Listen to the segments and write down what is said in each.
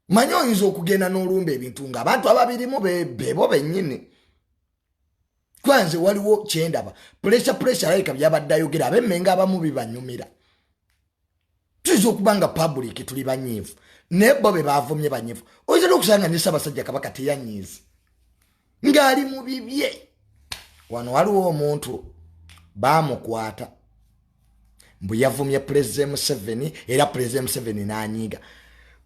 manyi oyinza okugenda n'olumba ebintu nga abantu ababirimu bebo bennyini kuba nze waliwo kyendaba puresha puresha alabika byabadde ayogera abemmenga abamu bibanyumira tuyinza okuba nga pabuliiki tuli banyiivu naye bo be bavumye banyiivu oyinza n'okusanga ne ssaabasajja kabaka teyanyiizi ng'ali mu bibye wano waliwo omuntu baamukwata mbu yavumye pulezida museveni era pulezida museveni n'anyiiga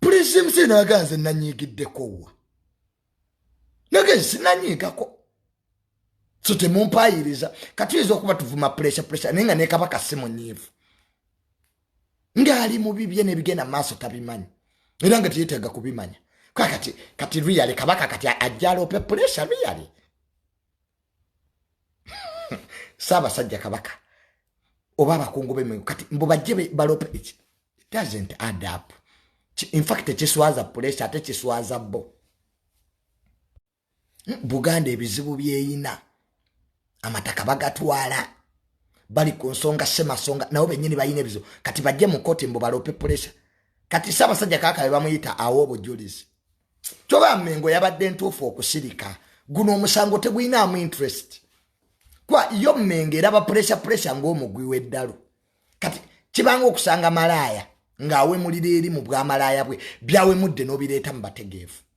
pulezida museveni aga nze nanyiigiddeko wa nage sinanyiigako so temumpaayiriza katuyinza okuba tuvuma pulesa pulesa naye nga nekabaka simunyiivu ng'ali mu bibye n'ebigenda maaso tabimanyi era nga teyeetaaga kubimanya kakati kati riyale kabaka kati ajjaloope pulesha riyale saabasajja kabaka oba abakungu bemwe kati mbu bajje balope it doesn't add up infact kiswaza pulesha ate kiswaza bo buganda ebizibu byeyina amataka bagatwala bali ku nsonga semasonga nabo benyini balina ebizibu kati bajje mu koti mbu balope pulesa kati saabasajja kaka be bamuyita awo obujulizi kyoba mengo yabadde ntuufu okusirika guno omusango teguyinaamu interest kuba yo mengo eraba pulesa pulesa ngaomugwi w'eddalu kati kibanga okusanga malaaya ng'awemulira eri mu bwamalaaya bwe byawemudde n'obireeta mu bategeevu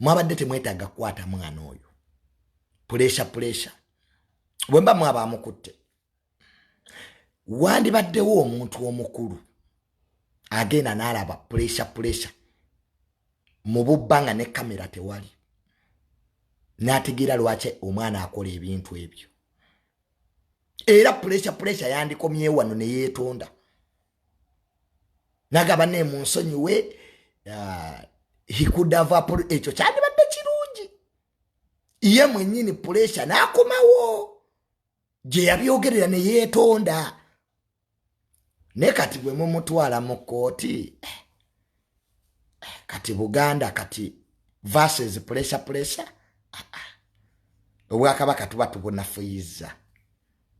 mwabadde temwetaaga kukwata mwana oyo puleesha puleesha bwe mba mwaba amukutte wandibaddewo omuntu omukulu agenda n'alaba puleesha puleesha mu bubba nga ne kamera tewali n'ategeera lwaki omwana akola ebintu ebyo era puleesha puleesha yandikomyewo wano ne yeetonda nagaba ne munsonyiwe uh, he could have apol ekyo kyandibadde kirungi ye mwenyini pulesha n'akomawo gye yabyogerera ne yeetonda naye kati bwe mumutwala mu kkooti eh, eh, kati buganda kati verses pulesha pulesha ah, ah. obwakabaka tuba tubunafuyizza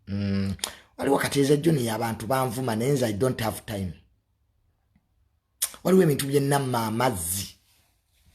mm. waliwo kati eza juni abantu banvuma naye nze i don't have time waliwo ebintu byenamma amazzi